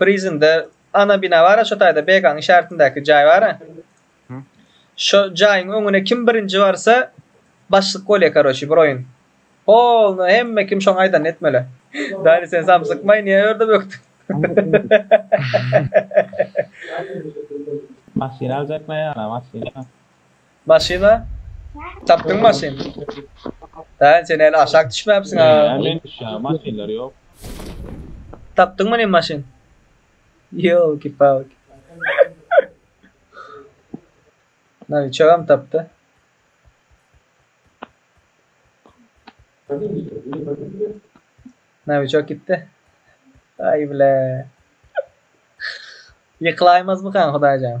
Bir yzynda ana bina bar-a şo taýda BK-nyň işaretindäki jaý bar-a. Şo jaýyň öňüne kim birinji barsa başlyk bolýa karoçi bir oýun. Polny hemme kim şoň aýdanyny etmeli. Dali sen samsykmaý niýe öýerde bökdüň. Maşyn aljakmaý ýa-da maşyn. Maşyna tapdyň maşyn. Daýan sen heli aşak düşmäpsiň a. Näme men düşýän maşynlar ýok. Tapdyň many maşyn. Ýolki palki. Nawiçogam tapdy. Nawiçok gitdi. Aý bile. Ýykylaýmazmykan hudaýjan.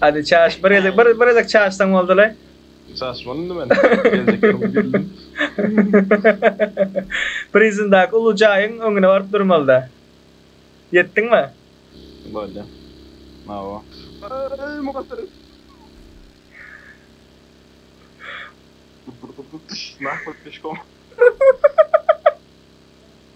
Hadi çaş bir gezek bir gezek çaşsaň boldylaý. Çaşmaly indi men. Geljek ýyl geldim. Prizindaky uly jaýyň öňüne baryp durmalyda. Ýetdiňmi? Bolýa. Mawa. Aý mugalym. Nahotki şkom.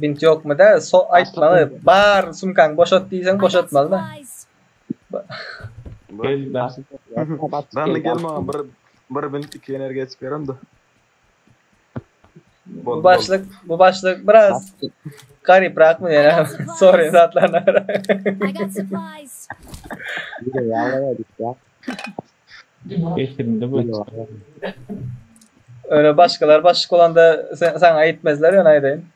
Bint ýokmy da? So aýtmagy bar sumkaň boşat diýseň boşatmaly da. Gel daşy. Dany gel maňa bir bir bint iki energiýa çykarym da. Bu başlyk, bu başlyk biraz garyp rakmy ýene sorry zatlaryna. Eşiginde bu. Öyle başkalar başlık olanda sen, sana aytmezler yani aydayım.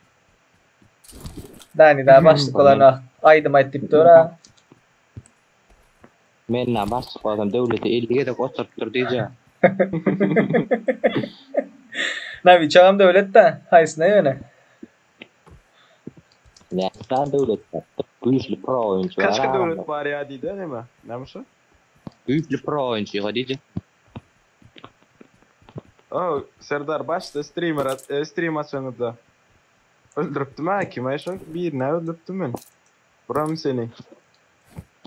Dani daha başlık olana aydım ayt deyip dur ha. Men na başlyk olsam döwlete 50 gezek oturtdyr diýje. Na bir çagam döwlet de haýsyna ýöne. Näsä döwlet? Güýçli pro oýunçy. Kaçka döwlet bar ýa diýdi näme? Näme şu? Düýpli pro oýunçyga diýjek. Ow Serdar başda streamer stream açanyňda öldüripdim a kime şo birine öldüripdim men. Buram seni.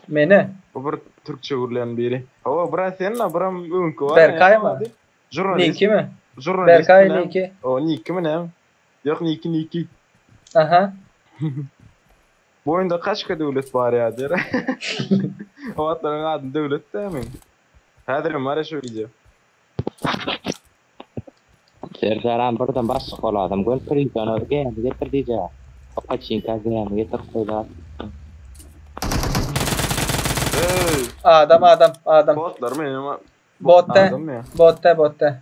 Meni. Bu bir türkçe gürleýän biri. Ow bura sen la buram öňki bar. Berkay mı? Jurnalist. Niki mi? Jurnalist. Berkay niki. O niki mi ne? Yok niki niki. Aha. Bu oýunda kaçka döwlet bar ýadyr. O wagtlaryň ady döwlet dämi? Häzirem bar ya şu wideo. Serdaram birden başlyk boladym göni prizona gämi getir diyja paçinka gämi getirip goýlar. Hey. Adam adam adam. Botlar mı? Botda. Adam ya. Botda botda.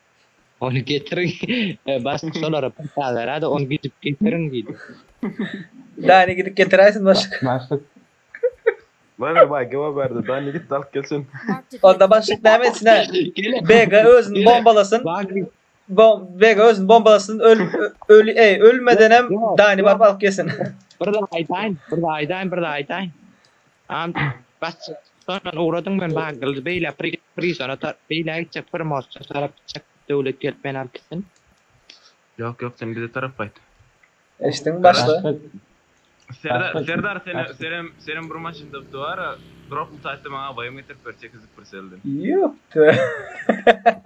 Ony getiriň. Başlyk şolara pul sal beräýdi, ony gidip getiriň diýdi. Dani gidip getiräýsin başlyk. Başlyk. Many baý geba berdi. Dani git alyp gelsin. Onda başlyk näme etsin-ä? Bega özüni bombalasyn. Bom Bega özüni bombalasyn. Öl öl eý, ölmedenem Dani baryp alyp gelsin. Bir zat aýdaýyn, bir zat aýdaýyn, bir zat aýdaýyn. Ant basjak sondan ugradyň men bagyldy beýle prizona ta beýle gitjek bir mosça tarap gitjek döwlet gelip meni alyp gitsin. Ýok ýok sen bize tarap gaýt. Eşdiň başda. Serdar Serdar seni senem senem bir maşyn tapdy bara drop utaytda maňa abaýym getirip ber tekizlik bir selden. Ýupda.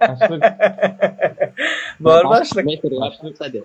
Başlyk. Bar başlyk. Başlyk.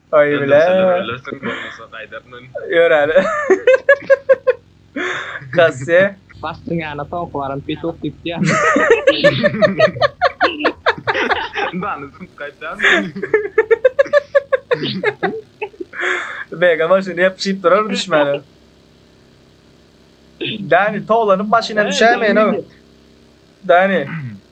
Oý bile. Ýör äle. Kasse. Basdyň ýana soňky baran petuk diýip diýýän. Dany syn gaýtýan. Bega maşyny ýapyşyp durar düşmäne. Dani towlanyp maşyndan düşäýmeýin-ow. Dani.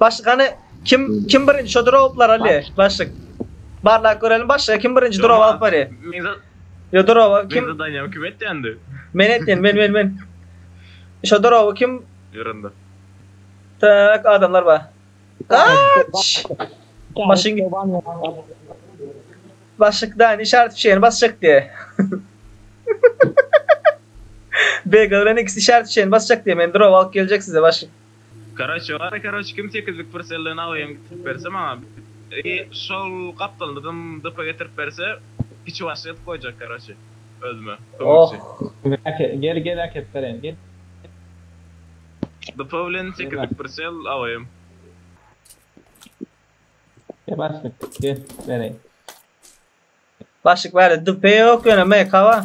Başlyk hany kim kim birinji şo droplar ali başlyk. Barlap görelim başlyk kim birinji drop alyp bari. Yo droba kim? Kim Daniel kim etdi? Men etdim men men men. Şo droba kim? Ýörende. Tak adamlar bar. Aç! Maşyn git. Başlyk da işaret fişeğini basacak diye. Bega bilen ikisi işaret fişeğini basacak diye. Men drop alıp gelecek size başlyk. Karoçe bar karoçe kim sekizlik prselden AVM getirip berse maňa i şol gapdalynydam DP getirip berse kiçi başly edip goýjak karoçe özüme kömekçi. Oh gel gel äkep bereýin gel. DP bilen sekizlik prsel AVM. Gel başlyk gel bereýin. Başlyk bärde DP ýok ýöne MK bar.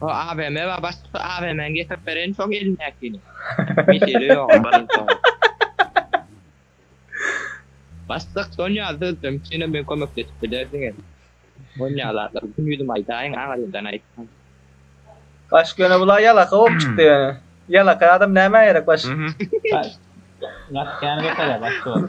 O AVM we başga AVM-ni getirip bereýin şoň elindäkini. Mesele ýok. Başlyk Sonya düzdüm. Şeýle men kömekleşip bilersiňiz. Sonya zatlar gün ýüzüm aýdaýyň aňyrdan aýtsam. Baş göne bula ýalaka bolup çykdy ýöne. Ýalaka adam nämä gerek baş? Gat ýany götere baş gör.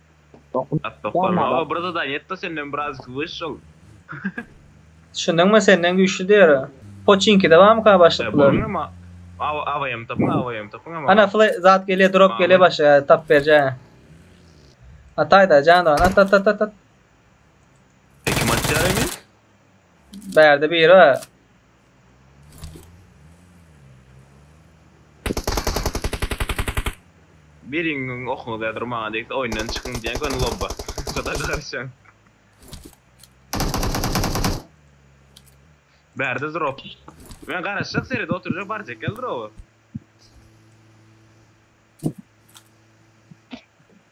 Doktor maga bir zadanie etda senden birazcık wysşl. Düşündiňmi senden güýçli diýer. Poçinkide barmyka başlyk bular. Bolyň ama AVM tapyň AVM tapyň ama. Ana fle zat gelýär drop gelýär başlyk tapyp berjä. Ataýda jandan at at at at at. E kim atýar indi? Bärde biri bar. Biriňiziň okuňyz däl dur maňa degse oýundan çykyň diýen göni lobba. Guda garşaň. Bärde drop. Men garaşjak serede oturjak barjak gel droby.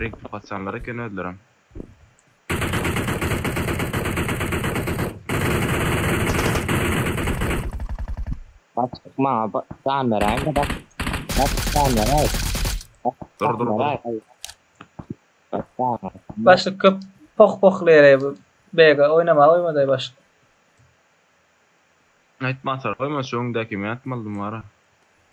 Rik bu haçanlar eken özlerem. Bak maňa ba- jan beräýiň de bak. Bak jan beräý. Bak Dur, jan dur, dur. beräý. Ay. Bak jan beräý. Başlyk köp poh pohlaýar bu bege oýnamaga goýmadaý başlyk. Aýtma atar goýma şu öňdäki men atmalydym wara.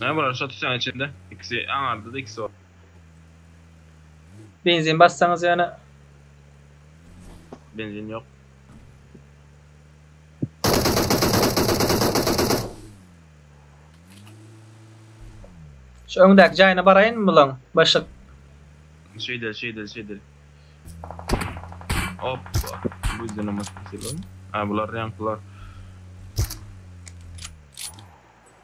Hä bular şo tutýan içinde ikisi aňardyda ikisi bar. Benzin bassaňyz ýöne. Benzin ýok. Şu öňdäki jaýyna baraýynmy bulaň? Başyk. Şeýdel şeýdel şeýdel. Hoppa. Bu ýene maşyn Ha bular ýaňkylar.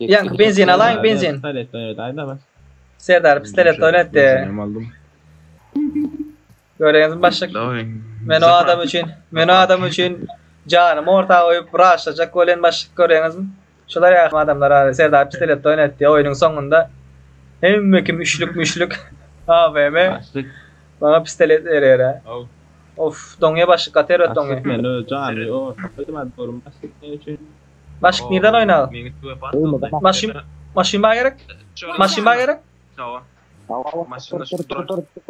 Ýaňky benzin alaýyň, benzin. Pistolet oýnat, aýda bas. Serdar pistolet oýnat de. Hem aldym. Göreňizmi başlyk? Daway. Men o adam üçin, men o adam üçin janymy orta goýup raşlajak welin başlyk göreňizmi? Şular ýaly adamlar bar. Serdar pistolet oýnat de, oýnuň soňunda hemme kim üçlük müşlük AVM Başlyk. maňa pistolet berer. he. Aw. Of, doňýa başlyk, gaty erbet doňýa. Başlyk men öz janymy orta goýdum, aýdyp görüm başlyk ne üçin? Başyk nirden oyna? Maşyn, maşyn bana gerek. Maşyn bana gerek.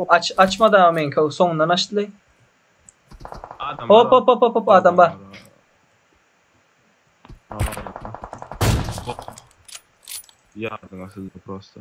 Aç, açma da men kav sonundan açtı. Hop hop hop hop hop adam var. Yardım asıldı prosto.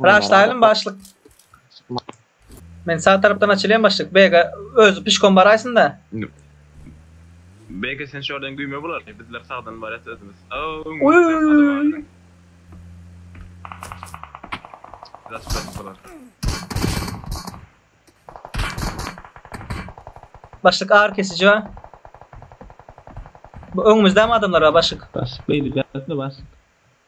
Raşlaýlym başlyk. Men sag tarapdan açylýan başlyk. Bege özi pişkom baraýsynda. Bege sen şordan güýme bular. Bizler sagdan barýas özümiz. Oýýýýy. Başlyk ar kesiji bar. Bu öňümizde mi adamlar bar başlyk? Başlyk beýle gelsene başlyk.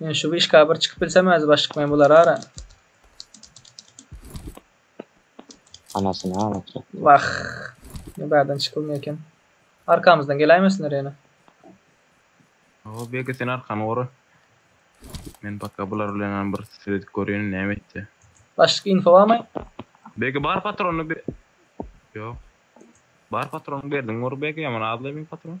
Men şu wişka bir çykyp bilsem özi baş çykmaýan bolar ara. Anasyny aglatjak. Wah. Ne bärden çykylmay eken. Arkamyzdan geläýmesinler ýene. Awa Bege sen arkany gora. Men paka bular bilenam bir sredip görýän näme etdi. Başlyk info barmy? Bege bar patrony be... Ýok. Bar patrony berdiň gora Bege ýaman azlaýmy patron?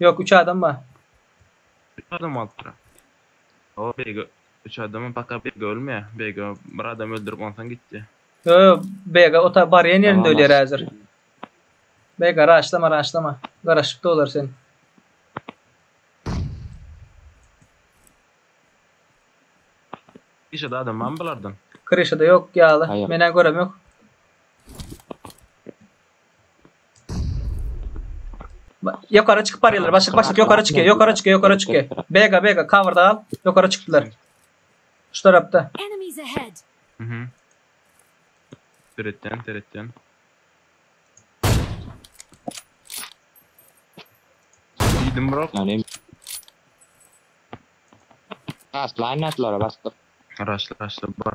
Yok üç adam bar. Üç adam bolupdyr. O beýge üç adamam paka beýge ölmeýär. Beýge bir adam öldürip onsaň gitdi. Yo yo beýge ota barýan ýerinde ölýär häzir. Beýge raşlama raşlama. Garaşypdy olar sen. Işede adam barmy bulardan? Kryşada yok ýaly. Aýak. Menä görem yok. Ba- Ýokara çykyp barýarlar. Başlyk başlyk ýokara çykýar. Ýokara çykýar, ýokara çykýar. Bega bega coverda al. Ýokara çykdylar. Şu tarapda. Enemies ahead! Mhm. Seretýän, seretýän. Diýdim bro. Yani Aslan atlara bastık. Raşla, raşla bar.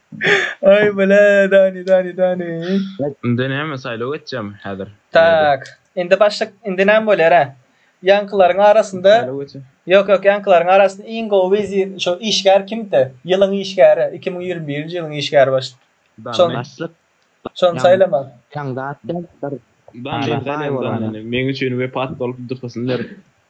Ay bile dani dani dani. Indi näme saýlaw geçjemi häzir? Tak. Indi başlyk indi näme bolýara? Ýaňkylaryň arasynda Ýok ýok ýaňkylaryň arasynda iň gowy wezir şo işgär kimdi? Ýylyň işgäri iki müň ýigrimi birinji ýylyň işgäri başlyk. Şony başlyk. Şony saýlama. Ýaňzat däl bir. Dani saýla dani. Meň üçin wepat bolup duhasyny berip.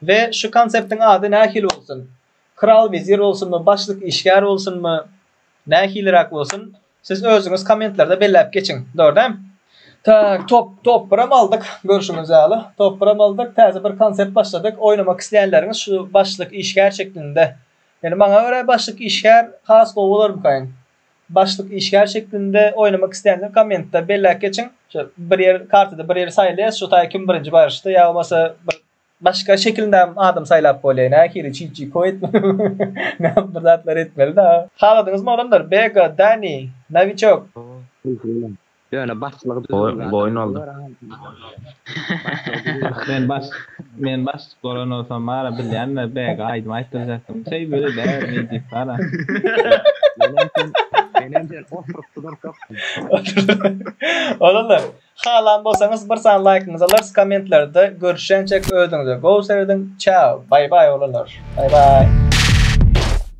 We şu konseptiň ady nähili bolsun? Kral wezir bolsunmy, başlyk işgär bolsunmy, nähiliräk bolsun, siz özüňiz kommentlerde belläp geçiň. Dogry-däm? Tak, top, topbram aldyk, görşüňiz ýaly, topbram aldyk, täze bir konsept başladyk, oýnamak isleýänleriňiz şu başlyk işgär şeklinde. Ýöne maňa görä başlyk işgär has gowy bolarmykaýyn. Başlyk işgär şeklinde oýnamak islänler kommentda belläp geçiň. Şo bir ýer kartada bir ýeri saýlaýas, şo taýy kim birinji baryşda ýa bolmasa bir başga şekilinde hem adam saýlap bolýar. Nähili çit çi koýt näme bir zatlar etmeli-de. Haladyňyzmy oglanlar? Bega, Dani, Nawiçok. Salam. Ýöne başlygy düzüwli adam bolar a. Men baş men başlyk bolan bolsam bara bilýänler bäge aýdym aýtdyrjakdym. Çeý bile däl meý diýip bara. Menem sen menem sen oturyp dururkakdym. Olarlar halan bolsaňyz bir sany laýkyňyzy alarys kommentlerde görüşýänçek özüňize gowy serediň çao baý baý olarlar baý baý.